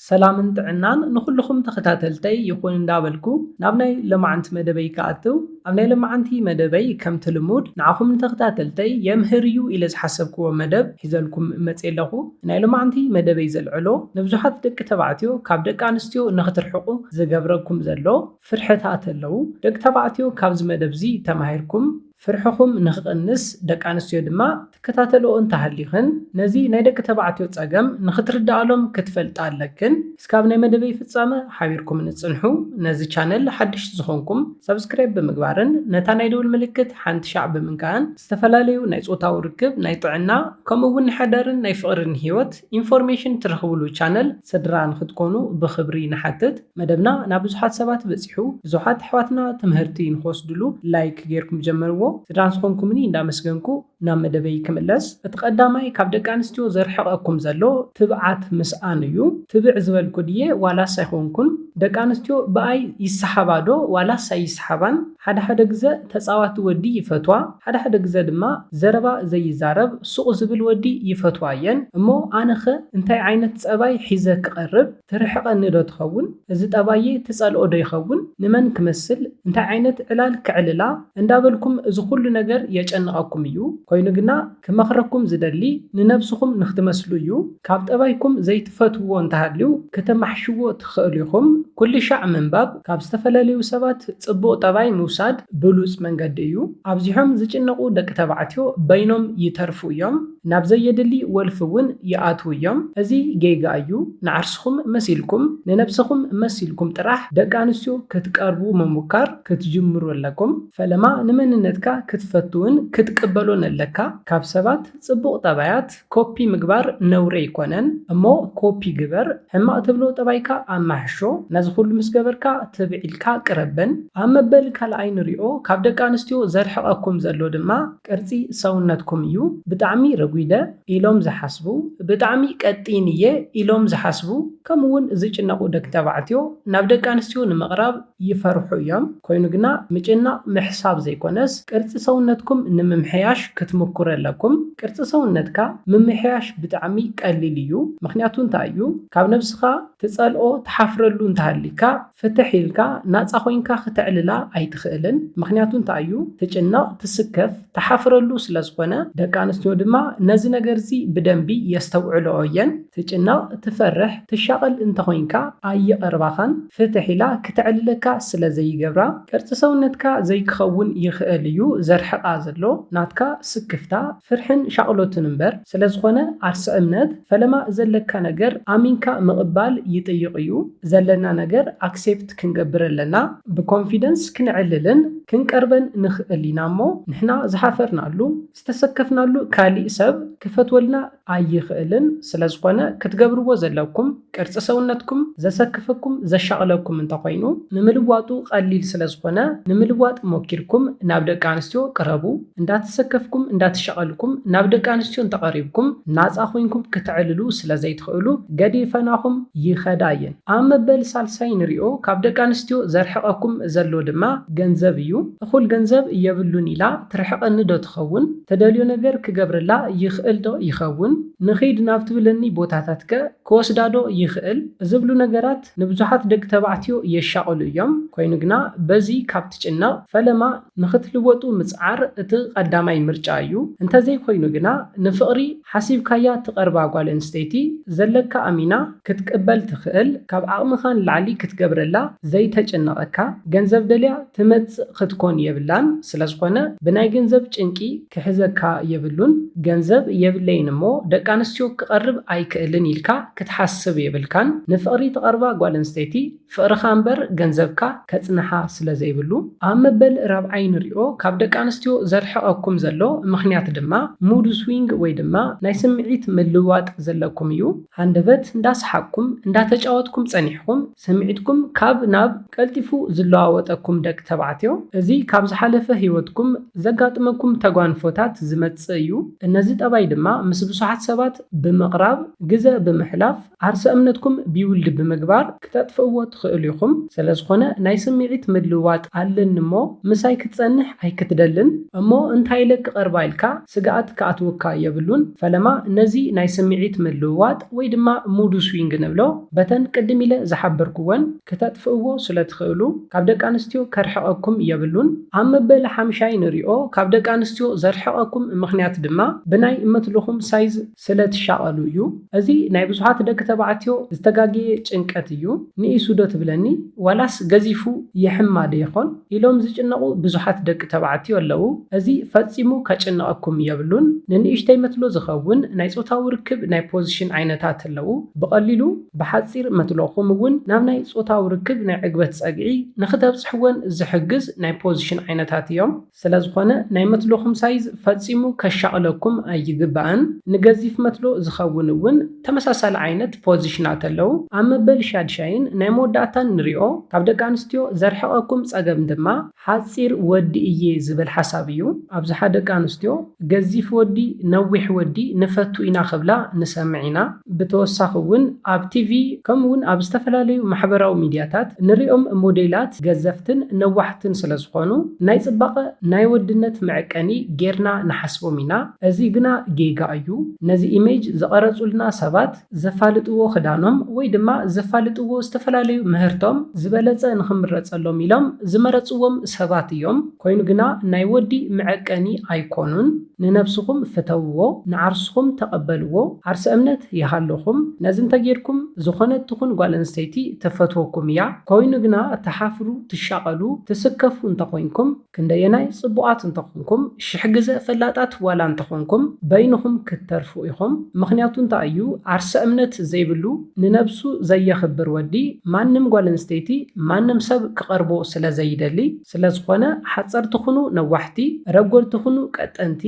ሰላምን ጥዕናን ንኹሉኹም ተኸታተልተይ ይኹን እንዳበልኩ ናብ ናይ ለማዓንቲ መደበይ ክኣትው ኣብ ናይ ለማዓንቲ መደበይ ከምቲ ልሙድ ንዓኹም ንተኸታተልተይ የምህር እዩ ኢለ ዝሓሰብክዎ መደብ ሒዘልኩም መጼ ኣለኹ ናይ ለማዓንቲ መደበይ ዘልዕሎ ንብዙሓት ደቂ ተባዕትዮ ካብ ደቂ ኣንስትዮ ንኽትርሕቁ ዝገብረኩም ዘሎ ፍርሕታት ኣለው ደቂ ተባዕትዮ ካብዚ መደብዚ ተማሂርኩም ፍርሕኹም ንኽቕንስ ደቂ ኣንስትዮ ድማ ትከታተልኦ እንተሃሊኽን ነዚ ናይ ደቂ ተባዕትዮ ጸገም ንኽትርድኣሎም ክትፈልጣ ኣለክን እስካብ ናይ መደበይ ፍጻመ ሓቢርኩምኒ ጽንሑ ነዚ ቻነል ሓድሽቲ ዝኾንኩም ሳብስክራይብ ብምግባርን ነታ ናይ ደውል ምልክት ሓንቲ ሻዕ ብምንካእን ዝተፈላለዩ ናይ ጾታዊ ርክብ ናይ ጥዕና ከምኡ ውን ናይ ሓዳርን ናይ ፍቕርን ሂወት ኢንፎርሜሽን ትረኽብሉ ቻነል ስድራ ንክትኮኑ ብኽብሪ ንሓትት። መደብና ናብ ብዙሓት ሰባት በጺሑ ብዙሓት ኣሕዋትና ትምህርቲ ንክወስድሉ ላይክ ጌርኩም ጀምርዎ። ስድራ ዝኾንኩምኒ እንዳመስገንኩ ናብ መደበይ ክምለስ። እቲ ቀዳማይ ካብ ደቂ ኣንስትዮ ዘርሕቐኩም ዘሎ ትብዓት ምስኣን እዩ። ትብዕ ዝበልኩ ድየ ዋላስ ኣይኮንኩን? ደቂ ኣንስትዮ ብኣይ ይሰሓባ ዶ ዋላስ ኣይሰሓባን? ሓደ ሓደ ግዘ ተፃዋቲ ወዲ ይፈትዋ ሓደ ሓደ ግዘ ድማ ዘረባ ዘይዛረብ ሱቅ ዝብል ወዲ ይፈትዋ እየን እሞ ኣነ ከ እንታይ ዓይነት ፀባይ ሒዘ ክቀርብ ትርሕቀኒ ዶ ትከውን እዚ ጠባየይ ትፀልኦ ዶ ይከውን ንመን ክመስል እንታይ ዓይነት ዕላል ከዕልላ እንዳበልኩም እዚ ኩሉ ነገር የጨንቀኩም እዩ ኮይኑ ግና ክመኽረኩም ዝደሊ ንነብስኹም ንክትመስሉ እዩ ካብ ጠባይኩም ዘይትፈትውዎ እንተሃልዩ ከተማሕሽዎ ትኸእሉ ኢኹም ኩልሻዕ ምንባብ ካብ ዝተፈለለዩ ሰባት ጽቡቅ ጠባይ ምውሳድ ብሉጽ መንገዲ እዩ ኣብዚሖም ዝጭነቁ ደቂ ተባዕትዮ በይኖም ይተርፉ እዮም ናብ ዘየድሊ ወልፊ ውን ይኣትው እዮም እዚ ጌጋ እዩ ንዓርስኹም መሲልኩም ንነብሰኹም መሲልኩም ጥራሕ ደቂ ኣንስትዮ ክትቀርቡ ምሙካር ክትጅምሩ ኣለኩም ፈለማ ንመንነትካ ክትፈትውን ክትቅበሎን ኣለካ ካብ ሰባት ጽቡቅ ጠባያት ኮፒ ምግባር ነውሪ ኣይኮነን እሞ ኮፒ ግበር ሕማቅ ትብሎ ጠባይካ ኣማሕሾ ነዚ ኩሉ ምስ ገበርካ ትብዕ ኢልካ ቅረበን ኣብ መበል ካልኣይ ንሪኦ ካብ ደቂ ኣንስትዮ ዘርሕቀኩም ዘሎ ድማ ቅርጺ ሰውነትኩም እዩ ብጣዕሚ ረጉደ ኢሎም ዝሓስቡ ብጣዕሚ ቀጢን እየ ኢሎም ዝሓስቡ ከምኡ ውን ዝጭነቁ ደቂ ተባዕትዮ ናብ ደቂ ኣንስትዮ ንምቅራብ ይፈርሑ እዮም ኮይኑ ግና ምጭናቅ ምሕሳብ ዘይኮነስ ቅርጺ ሰውነትኩም ንምምሕያሽ ክትምኩሩ ኣለኩም ቅርጺ ሰውነትካ ምምሕያሽ ብጣዕሚ ቀሊል እዩ ምክንያቱ እንታይ እዩ ካብ ነብስካ ትጸልኦ ትሓፍረሉ እንተሃሊካ ፍትሕ ኢልካ ናጻ ኮይንካ ክተዕልላ ኣይትክእልን ምክንያቱ እንታይ እዩ ትጭነቅ ትስከፍ ትሓፍረሉ ስለዝኾነ ደቂ ኣንስትዮ ድማ ነዚ ነገርዚ ብደንቢ የስተውዕልኦ እየን ትጭነቕ ትፈርሕ ትሻቐል እንተኾይንካ ኣይቐርባኻን ፍትሕ ኢላ ክተዕልለካ ስለዘይገብራ ቅርጺ ሰውነትካ ዘይክኸውን ይኽእል እዩ ዘርሕቓ ዘሎ ናትካ ስክፍታ ፍርሕን ሻቕሎትን እምበር ስለዝኾነ ኣርሲ እምነት ፈለማ ዘለካ ነገር ኣሚንካ ምቕባል ይጥይቕ እዩ ዘለና ነገር ኣክሴፕት ክንገብር ኣለና ብኮንፊደንስ ክንዕልልን ክንቀርበን ንኽእል ኢና እሞ ንሕና ዝሓፈርናሉ ዝተሰከፍናሉ ካሊእ ሰብ ክፈትወልና ኣይኽእልን ስለዝኾነ ክትገብርዎ ዘለኩም ቅርጺ ሰውነትኩም ዘሰክፈኩም ዘሻቕለኩም እንተኾይኑ ንምልዋጡ ቐሊል ስለዝኾነ ንምልዋጥ ሞኪርኩም ናብ ደቂ ኣንስትዮ ቅረቡ እንዳተሰከፍኩም እንዳተሸቐልኩም ናብ ደቂ ኣንስትዮ እንተቐሪብኩም ናጻ ኮይንኩም ክተዕልሉ ስለዘይትኽእሉ ገዲፈናኹም ይኸዳ እየን። ኣብ መበል ሳልሳይ ንሪኦ ካብ ደቂ ኣንስትዮ ዘርሕቐኩም ዘሎ ድማ ገንዘብ እዩ። እኹል ገንዘብ የብሉን ኢላ ትርሕቐኒ ዶ ትኸውን? ትደልዮ ነገር ክገብረላ ይኽእል ዶ ይኸውን? ንኺድ ናብ ትብለኒ ቦታታትከ ክወስዳ ዶ ይኽእል? ዝብሉ ነገራት፣ ኣሕዋት ንብዙሓት ደቂ ተባዕትዮ የሻቕሉ እዮም ኮይኑ ግና በዚ ካብ ትጭነቕ ፈለማ ንኽትልወጡ ምጽዓር እቲ ቐዳማይ ምርጫ እዩ እንተዘይ ኮይኑ ግና ንፍቕሪ ሓሲብካያ ትቐርባ ጓል ኣንስተይቲ ዘለካ ኣሚና ክትቅበል ትኽእል ካብ ዓቕምኻ ንላዕሊ ክትገብረላ ዘይተጭነቐካ ገንዘብ ደልያ ትመጽእ ኽትኮን የብላን ስለዝኾነ ብናይ ገንዘብ ጭንቂ ክሕዘካ የብሉን ገንዘብ የብለይን እሞ ደቂ ኣንስትዮ ክቐርብ ኣይክእልን ኢልካ ክትሓስብ የብልካን ንፍቅሪ ትቀርባ ጓል ኣንስተይቲ ፍቅርካ እምበር ገንዘብካ ከጽንሓ ስለ ዘይብሉ ኣብ መበል ራብዓይ ንሪኦ ካብ ደቂ ኣንስትዮ ዘርሕቀኩም ዘሎ ምክንያት ድማ ሙድ ስዊንግ ወይ ድማ ናይ ስምዒት ምልውዋጥ ዘለኩም እዩ ሃንደበት እንዳ ሰሓቅኩም እንዳ ተጫወትኩም ጸኒሕኩም ስምዒትኩም ካብ ናብ ቀልጢፉ ዝለዋወጠኩም ደቂ ተባዕትዮ እዚ ካብ ዝሓለፈ ሂወትኩም ዘጋጥመኩም ተጓንፎታት ዝመጽእ እዩ እነዚ ጠባይ ድማ ምስ ብዙሓት ሰባት ብምቕራብ ግዘ ብምሕላፍ ዓርሰ እምነትኩም ቢውልድ ብምግባር ክተጥፍእዎ ትኽእሉ ኢኹም ሰለዝኾነ ናይ ስሚዒት ምልውዋጥ ኣለኒ እሞ ምሳይ ክትፀንሕ ኣይክትደልን እሞ እንታይ ኢለ ክቐርባ ኢልካ ስግኣት ክኣትውካ የብሉን ፈለማ ነዚ ናይ ስሚዒት ምልውዋጥ ወይ ድማ ሙዱ ስዊንግ ንብሎ በተን ቅድም ኢለ ዝሓበርኩወን ክተጥፍእዎ ስለ ትኽእሉ ካብ ደቂ ኣንስትዮ ከርሕቐኩም የብሉን። ኣብ መበሊ ሓምሻይ ንሪኦ ካብ ደቂ ኣንስትዮ ዘርሕቐኩም ምኽንያት ድማ ብናይ እመትልኹም ሳይዝ ስለ ትሻቐሉ እዩ። እዚ ናይ ብዙሓት ደቂ ተባዕትዮ ዝተጋገየ ጭንቀት እዩ። ንኢሱ ዶ ትብለኒ ዋላስ ገዚፉ ይሕማ ዶ ይኾን ኢሎም ዝጭነቑ ብዙሓት ደቂ ተባዕትዮ ኣለዉ። እዚ ፈጺሙ ከጭንቐኩም የብሉን። ንንእሽተይ መትሎ ዝኸውን ናይ ጾታዊ ርክብ ናይ ፖዚሽን ዓይነታት ኣለዉ። ብቐሊሉ። ብሓጺር መትሎ ከምኡ ውን ናብ ናይ ጾታዊ ርክብ ናይ ዕግበት ጸግዒ ንክተብጽሕወን ዝሕግዝ ናይ ፖዚሽን ዓይነታት እዮም። ስለዝኾነ ናይ መትሎኹም ሳይዝ ፈጺሙ ከሻቕለኩም ኣይግባእን። ንገዚፍ መትሎ ዝኸውን ውን ተመሳሳሊ ዓይነት ፖዚሽናት ኣለው። ኣብ መበል ሻድሻይን ናይ መወዳእታን ንሪኦ ካብ ደቂ ኣንስትዮ ዘርሕቐኩም ጸገም ድማ ሓጺር ወዲ እየ ዝብል ሓሳብ እዩ ኣብዝሓ ደቂ ኣንስትዮ ገዚፍ ወዲ ነዊሕ ወዲ ንፈቱ ኢና ክብላ ንሰምዕ ኢና ብተወሳኺ እውን ኣብ ቲቪ ከምኡ እውን ኣብ ዝተፈላለዩ ማሕበራዊ ሚድያታት ንሪኦም ሞዴላት ገዘፍትን ነዋሕትን ስለ ዝኾኑ ናይ ፅባቐ ናይ ወድነት መዕቀኒ ጌርና ንሓስቦም ኢና እዚ ግና ጌጋ እዩ ነዚ ኢሜጅ ዝቐረፁልና ሰባት ዘፋልጥዎ ክዳኖም ወይ ድማ ዘፋልጥዎ ዝተፈላለዩ ምህርቶም ዝበለፀ ንክምረፀሎም ኢሎም ዝመረፅዎም ሰባት እዮም ኮይኑ ግና ናይ ወዲ መዐቀኒ ኣይኮኑን ንነብስኹም ፍተውዎ ንዓርስኹም ተቀበልዎ ዓርሰ እምነት ይሃልኹም ነዚ እንተጌርኩም ዝኾነት ትኹን ጓል ኣንስተይቲ ትፈትወኩም እያ ኮይኑ ግና ትሓፍሩ ትሻቀሉ ትስከፉ እንተኾይንኩም ክንደየናይ ጽቡቓት እንተ ኾንኩም፣ ሽሕ ግዘ ፈላጣት ዋላ እንተ ኾንኩም፣ በይንኹም ክትተርፉ ኢኹም። ምኽንያቱ እንታይ እዩ፣ ዓርሰ እምነት ዘይብሉ፣ ንነብሱ ዘየኽብር ወዲ፣ ማንም ጓል ኣንስተይቲ፣ ማንም ሰብ ክቐርቦ ስለ ዘይደሊ፣ ስለ ዝኾነ ሓጸርቲ ኹኑ ነዋሕቲ፣ ረጎድቲ ኹኑ ቀጠንቲ፣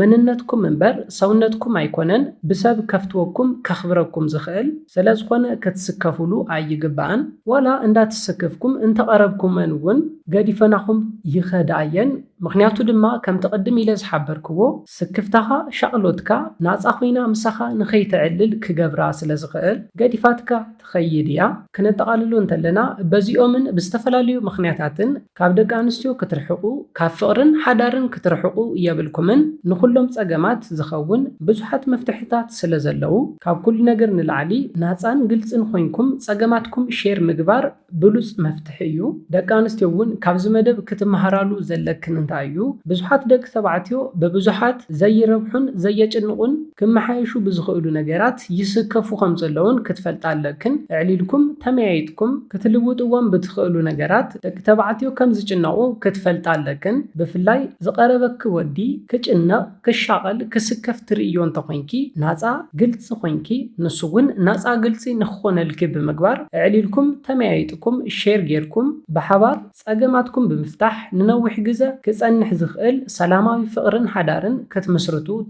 መንነትኩም እምበር ሰውነትኩም ኣይኮነን ብሰብ ከፍትወኩም ከኽብረኩም ዝኽእል ሰለዝኾነ ክትስከፍሉ ኣይግባእን ዋላ እንዳትሰከፍኩም እንተቀረብኩመን ውን ገዲፈናኹም ይኸዳ እየን ምኽንያቱ ድማ ከምቲ ቅድም ኢለ ዝሓበርክዎ ስክፍታኻ ሻቅሎትካ ናጻ ኮይና ምሳኻ ንኸይተዕልል ክገብራ ስለዝኽእል ገዲፋትካ ትኸይድ እያ ክነጠቃልሎ እንተለና በዚኦምን ብዝተፈላለዩ ምኽንያታትን ካብ ደቂ ኣንስትዮ ክትርሕቁ ካብ ፍቅርን ሓዳርን ክትርሕቁ የብልኩምን ንኩሎም ጸገማት ዝከውን ብዙሓት መፍትሕታት ስለ ዘለዉ ካብ ኩሉ ነገር ንላዕሊ ናጻን ግልጽን ኮይንኩም ጸገማትኩም ሼር ምግባር ብሉጽ መፍትሒ እዩ ደቂ ኣንስትዮ ውን ካብዚ መደብ ክትማሃራሉ ዘለክን እንታይ እዩ ብዙሓት ደቂ ተባዕትዮ ብብዙሓት ዘይረብሑን ዘየጭንቁን ክመሓየሹ ብዝክእሉ ነገራት ይስከፉ ከም ዘለዉን ክትፈልጣ ኣለክን እዕሊልኩም ተመያይጥኩም ክትልውጥዎም ብትክእሉ ነገራት ደቂ ተባዕትዮ ከም ዝጭነቁ ክትፈልጣ ኣለክን ብፍላይ ዝቀረበኪ ወዲ ክጭነቅ ክሻቀል ክስከፍ ትርእይዮ እንተኮይንኪ ናጻ ግልጺ ኮይንኪ ንሱ ውን ናጻ ግልጺ ንክኮነልኪ ብምግባር እዕሊልኩም ተመያይጥኩም ሼር ጌርኩም ብሓባር ጸገማትኩም ብምፍታሕ ንነዊሕ ግዘ ክጸንሕ ዝክእል ሰላማዊ ፍቅርን ሓዳርን ክትምስርቱ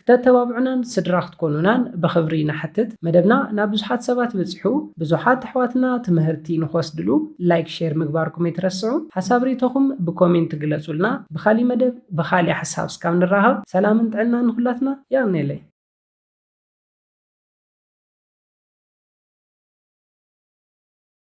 ክተተባብዑናን ስድራ ክትኮኑናን ብኽብሪ ንሓትት። መደብና ናብ ብዙሓት ሰባት በጺሑ ብዙሓት ኣሕዋትና ትምሀርቲ ንኽወስድሉ ላይክ ሼር ምግባርኩም ኣይትረስዑ። ሓሳብ ሪኢቶኹም ብኮሜንት ግለጹልና። ብኻሊእ መደብ ብኻሊእ ሓሳብ እስካብ ንራኸብ ሰላምን ጥዕናን ንኹላትና። የቕኔለይ።